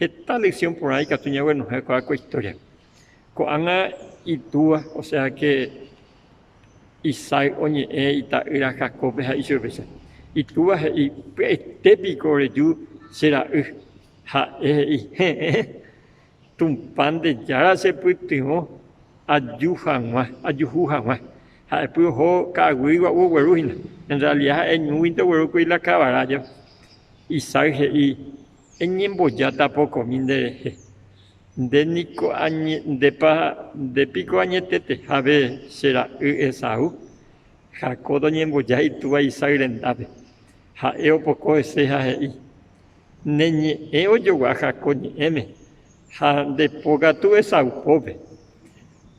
Heta lección porã ikatu ñaguenohẽ ko'ã ko historia-pe. Ko'ág̃a itúa, osea que Isaac oñe'ẽ ita'ýra Jacob-pe ha ichupéicha. Itúva he'i, Pya'ete piko oreju che ra'y. Ha'e he'i, Heẽ, Tupã nde Jára chepytyvõ aju hag̃ua, ajuhu hag̃ua. Ha'epy oho ka'aguy gua'u ogueru hína. En realidad ha'e ñúguinte oguerúkuri la kavara jave. Isaac he'i, Eñembojáta pokomi nderehe. Nde niko añe, ndépa, nde piko añetetehápe che ra'y Esaú? Jacob oñemboja itúva Isaac rendápe. Ha'e opoko hese ha he'i, Ne ñe'ẽ ojogua Jacob ñe'ẽme, ha nde pokatu Esaú pópe.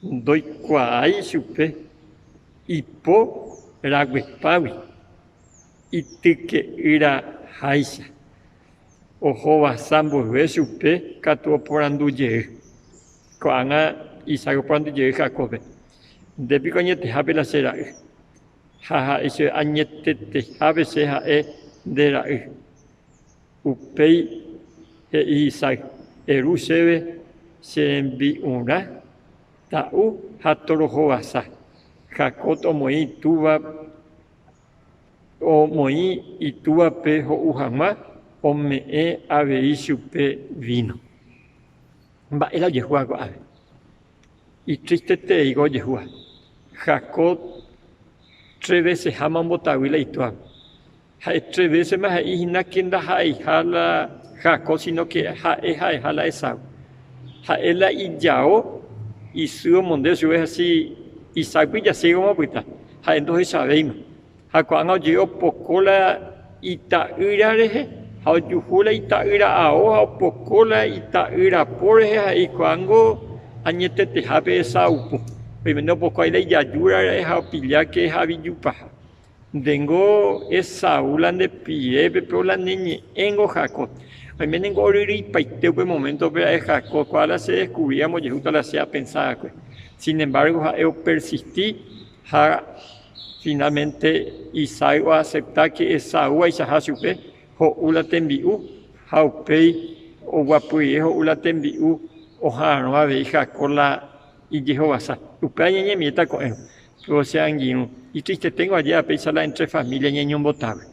Ndoikuaái chupe ipo raguepágui. Ityke'ýra háicha. Ohovasa mboyve chupe katu oporandu jey. Ko'ág̃a isay oporandu jey Jacóbpe, Nde piko añetehápe la che ra'y? Ha ha'e chéve, Añetetehápe che ha'e nde ra'y. Upéi he'i Isay, Eru chéve che rembi'urã ta'u ha torohovasa. Jacob omoĩ itúva. Omoĩ itúape ho'u hag̃ua, ome'ẽ avei chupe víno. Mba'e la ojehúva ko'ág̃a? Itristetereíko ojehúva. Jacob tre véseháma ombotavy la itúape. Ha'e tre vésema he'i hína ke ndaha'eiha la Jacob, sínoke ha'e ha'eha la Esaú. Ha'e la ijao isy omonde chupe hási isákui jasýgoma opyta, ha'e ndohechavéima. Ha ko'ág̃a oje'e opoko la ita'ýra rehe, ha ojuhu la ita'ýra ao ha opoko la ita'ýra po rehe ha eikuaángo añetetehápe esa'aupo. Oimene opoko aĩ la ijajúra ra'e ha opilláke ha avijupaha. Ndéngo Esaú la nde pire pe péo la ne ñe'ẽngo Jacob. Oime ningo oryryipaite upe momento pe ha'e Jacob, ko'ã la se descubrí ambojehúta la che apensa va'ekue. Sin embargo ha'e o persisti ha finalmente Isaac o acepta que Esaú aichaha chupe ho'u la tembi'u ha upéi oguapyrie ho'u la tembi'u oha'arõ avei Jacob la ijehovasa. Upéva ñañemíeta ko'ẽrõ. Ko che angirũ, itristeténgo ajéva péicha la entre família ñañombotágui,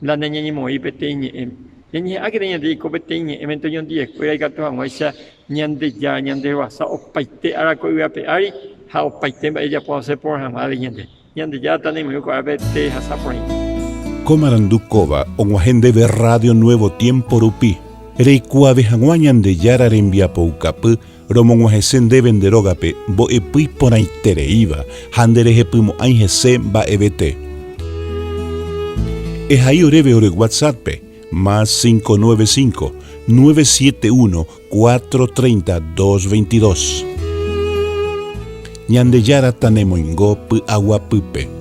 la nañañemoĩ peteĩ ñe'ẽme. Ñañeha'ãkena ñande jaiko peteĩ ñe'ẽmenta oñondive'ekuéra ikatu hag̃uáicha Ñandejára ñandeguasa opaite ára ko yvy ape ári ha opaite mba'e ijapo osẽ porã hag̃uágui ñande. Ñandejára tanemirirũ ko árape tehasa porãite. Ko marandu kóva og̃uahẽ ndéve Radio Nuevo Tiempo rupi, reikuaave hag̃ua Ñandejára rembiapoukapy Romog̃uahẽse ndéve nde rógape mbo'epy porãitereíva ha nderehepymo'ãi hese mba'evete. Ehai oréve ore WhatsApp-pe, más cinco nueve cinco, nueve siete uno, cuatro treinta, dos veintidós. Ñandejára tanemoingo py'aguapýpe.